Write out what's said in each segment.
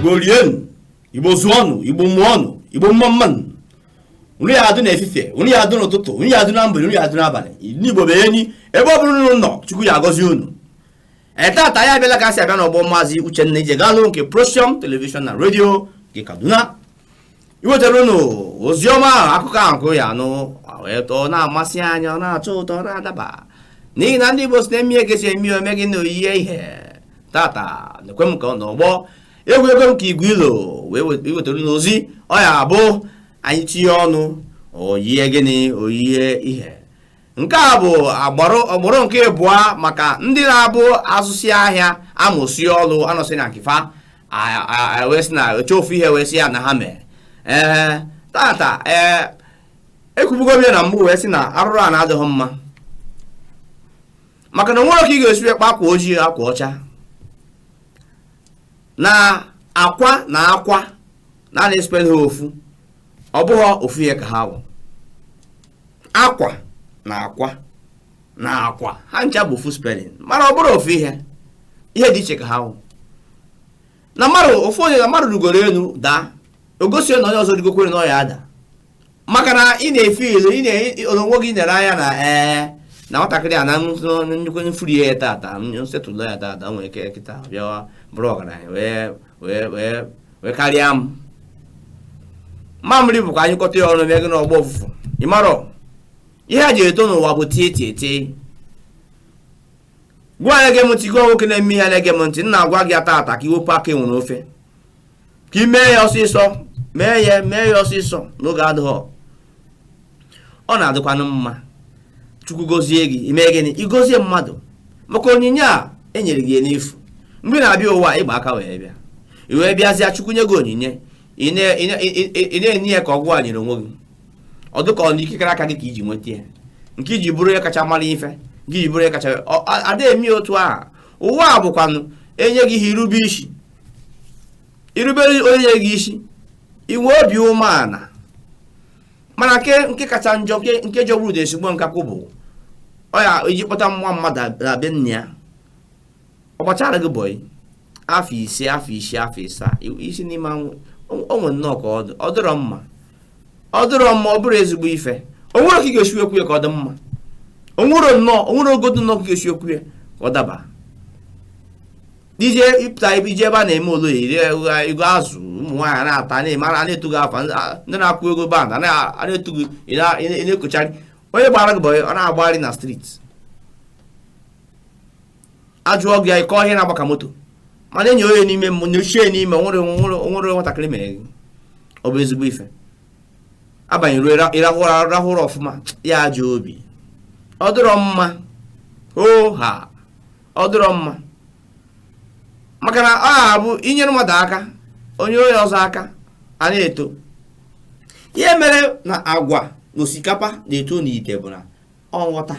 igbo rienu igbo zụọnụ igbo mụọnụ igbo mma mmanụ unu ya adụ n'efifie unu ya adụ n'ụtụtụ unu ya adụ na mgbede unu ya adụ n'abalị n'igbo bụ enyi ebe ọ bụla unu nọ chukwu ya agọzi unu ee tata ya abịala ka a si abịa na ọ bụ maazị uchenna ijegalụ nke procyon television na redio nke kaduna iwetara unu oziọma ahụ akụkọ ahụ gụ ya anụ wee tọọ na-amasị anya ọ na-atọ ụtọ ọ na-adaba n'ihi na ndị Igbo si na e mee ihe ka e si eme o mee gịnị o yie ihe tata na-ekwe m ka ọ n'ọgbọ egwu ego m ka igwe ilo wee wetara unu ozi ọ ya abụ anyị tinye ọnụ o yie gịnị o yie ihe nke a bụ agbụrụ ugboro nke ịbụa maka ndị na-abụ azụsị ahịa amụsị ọlụ anọsị na nke fa wee sị na achọọ ofu ihe wee sị ya na ha mere ee tata ee ekwubugo m ya na mbụ wee sị na arụrụ ana adịghị mma maka na onwere ka ị ga-esi ekpe akwa ojii akwa ọcha na akwa na akwa na a na-espel ha ofu ọ bụghị ofu ihe ka ha wụ akwa na akwa na akwa ha ncha bụ ofu spelling mana ọ bụrọ ofu ihe ihe dị iche ka ha wụ na mmadụ ofu onye na mmadụ rugoro elu daa o gosi na onye ọzọ rigokwere na ọ ya ada maka na ị na-efe ilu ị na-onwe gị nyere anya na ee na nwatakịrị a na nnukwu m free ya tata m settle ya tata nwere ike kịta bịawa bụrụ ọgaranya wee karịa m mamịrị bụkwa a nyụkọta ya ọnụ o mee gịnị ọ gbọọ ụfụfụ ịmarọ ihe e ji eto n'ụwa bụ tie tie tie gụwa na-ege m ntị gụwa nwoke na-eme ihe na-ege m ntị m na-agwa gị tata ka iwepụ aka enwe n'ofe ka ị mee ya ọsịsọ mee ya mee ya ọsịsọ n'oge adịghị ọ na-adịkwanụ mma chukwu gozie gị ime gịnị igozie mmadụ maka onyinye a enyere gị n'efu mgbe ị na-abịa ụwa ịgba aka wee bịa i wee bịazịa chukwu nye gị onyinye ị na-ene ya ka ọ gụwa nyere onwe gị ọ dịka ọ na ikikere aka gị ka iji nweta ya nke iji bụrụ onye kacha mara ife nke iji bụrụ onye kacha ada eme otu ahụ ụwa a bụkwanụ enye gị ihe irube isi irubere onye gị isi inwe obi umeala mana nke nke kacha njọ nke nke jọgburu udele sigbuo nkakwụ bụ ọ ya ije kpọta nwa mmadụ na be nna ya ọ gbachara gị bọyị afọ ise afọ isii afọ ịsaa isi n'ime anwụ onwe nnọọ ka ọ dị ọ dịrọ mma ọ dịrọ mma ọ bụrọ ezigbo ife onwere ka ị ga-esi ekwu ya ka ọ dị mma onwere nnọọ onwere ogodo nnọọ ka ị ga-esi ekwu ya ka ọ daba ije ịpụta ebe ije ebe a na-eme oriri i goo azụ ụmụ nwaanyị na-ata na-eme a na-etu gị afa ndị na-akụ egwu band a na-etu gị ị na-ekochari onye gbara gị bọyị ọ na-agbagharị na street ajụọ gị anyị kọọ ihe na-agba ka moto mana enyi onye n'ime m nyochie n'ime nwere nwere nwatakịrị mere gị ọ bụ ezigbo ife abanye ruo ịrahụ ụra rahụ ụra ọfụma ya ajọ obi ọ dịrọ mma o ha ọ dịrọ mma maka na ọ na-abụ inyere mmadụ aka o nyere onye ọzọ aka a na-eto ihe mere na agwa na osikapa na-eto n'ite bụ na ọ nghọta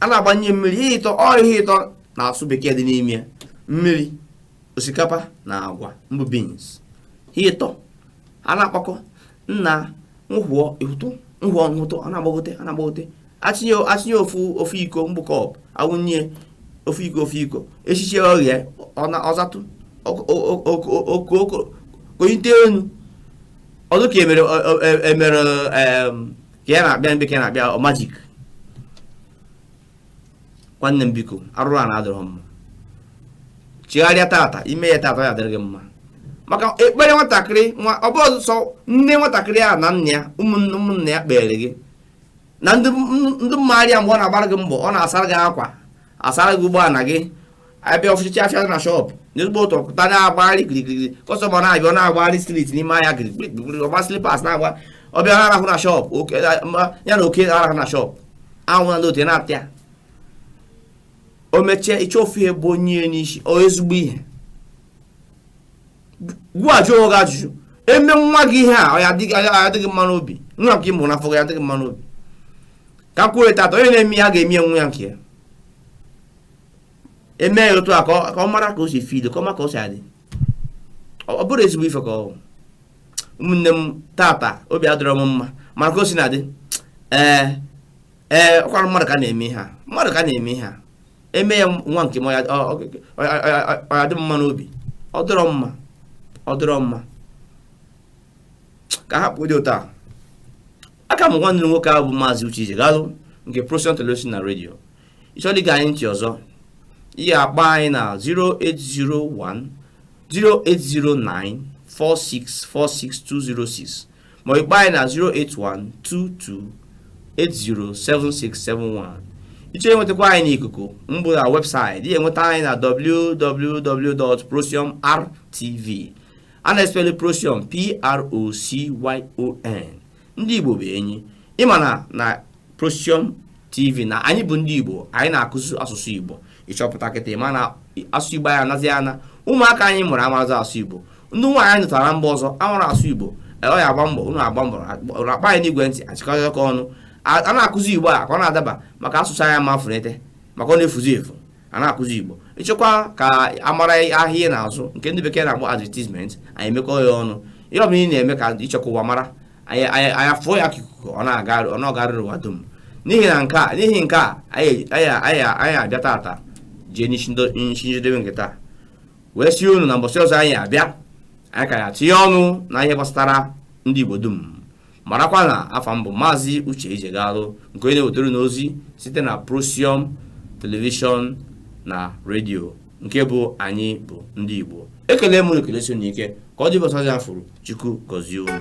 a na-agbanye mmiri ihe ịtọ ọ ihe ịtọ na-asụ bekee dị n'ime ya mmiri osikapa na agwa mbụ beans ihe ịtọ a na-akpakọ nna nhụọ ịhụtụ nhụọ nhụtụ a na-agbagote a na-agbagote atinye atinye ofu ofu iko mbụ cup awụnye ofu iko ofu iko esichie o ghee ọ zatụ okooko konye ite enu ọ dị ka emere emere ka ya na-akpịa mkpe ka ya na-akpịa ọ majik nwanne m biko arụrụana adịrọ mma chigharịa tata i mee ya tata ya adịrị gị mma maka ekpere nwatakịrị nwa ọ bụrọzị sọ nne nwatakịrị a na nna ya ụmụnne ụmụnna ya kpeere gị na ndị maara ya mgbe ọ na-agbara gị mbọ ọ na-asara gị akwa asara gị ụgbọala gị abịa ọfụchichi afịa na shọpụ n'ezigbo ụtụtụ pụta na-agbagharị kirikiri kọstọma na-abịa ọ na-agbagharị streeti n'ime ahịa kirikiri ọ gba slipas na-agba ọ bịa na-arahụ na shọpụ ya na oke arahụ na shọpụ anwụ na ndị otu na-ata ya o mechie ị chọọ ofu ihe bo ya n'isi ọ ezigbo ihe ngwa jụọ onwe gị ajụjụ emee nwa gị ihe a ọ ya-adị gị mma n'obi nwa nke ị mụ n'afọ ya adị gị mma n'obi ka kwuo tata onye na-eme ya ga-eme ya nwa ya nke ya emee ya otu a ka ọ mara ka o si fido ka ọ ma ka o si adị ọ bụrụ ezigbo ife ka ọ ụmụnne m tata obi adịrọ m mma mara ka o si na-adị ee ee ọkwara mmadụ ka na-eme ihe a mmadụ ka na-eme ihe a eme ya nwa nke m ọ ya-adị m mma n'obi ọ dịrọ mma ọ dịrọ mma ka hapụdị taa aka m nwanne unu nwoke a bụ maazị Uche Ijegalụ nke Procyon Television na redio ịchọrọ ige anyị ntị ọzọ ị ya-akpọ anyị na 0801 0809 4646206 ma ịkpọ anyị na 08122807671 ịchọrọ inwetakwa anyị n'ikuku mbụ na webụsaịtị ị ya-enweta anyị na www.procyonrtv a na-espelụ procyon p r o c y o n ndị Igbo bụ enyi ị ma na na Procyon TV na anyị bụ ndị Igbo anyị na-akụzi asụsụ Igbo ị chọpụta kịta ị ma na asụsụ Igbo anyị anazi ana ụmụaka anyị mụrụ amarazị asụ Igbo ndị nwaanyị anyị nụtara mba ọzọ amarọ asụ Igbo e, ọ ya agba mbọ unu agba mbọ akpọ anyị n'igwe ntị achịkọta ọnụ a na-akụzi Igbo a ka ọ na-adaba maka asụsụ anyị ma funete maka ọ na-efuzi efu a na-akụzi igbo ị chọkwa ka a mara ahịa ị na-azụ nke ndị bekee na-akpọ advertisement anyị emekọọ ya ọnụ ihe ọbụla ị na-eme ka ị chọ ka ụwa mara anyị afụọ ya ka ikuku ọ na-agarịrị ụwa dum n'ihi nke a anyị abịa tata jee n'isi njedebe nke taa wee sị unu na mbọsị ọzọ anyị abịa anyị ka ya-etinye ọnụ na ihe gbasara ndị igbo dum marakwa na afa m bụ maazị uche ijegalụ nke onye na-ewetara unu ozi site na procyon telivishọn na redio nke bụ anyị bụ ndị igbo ekele m unu ekelesie unu ike ka ọ dị mbọsị ọzọ a fụrụ chukwu gọzie unu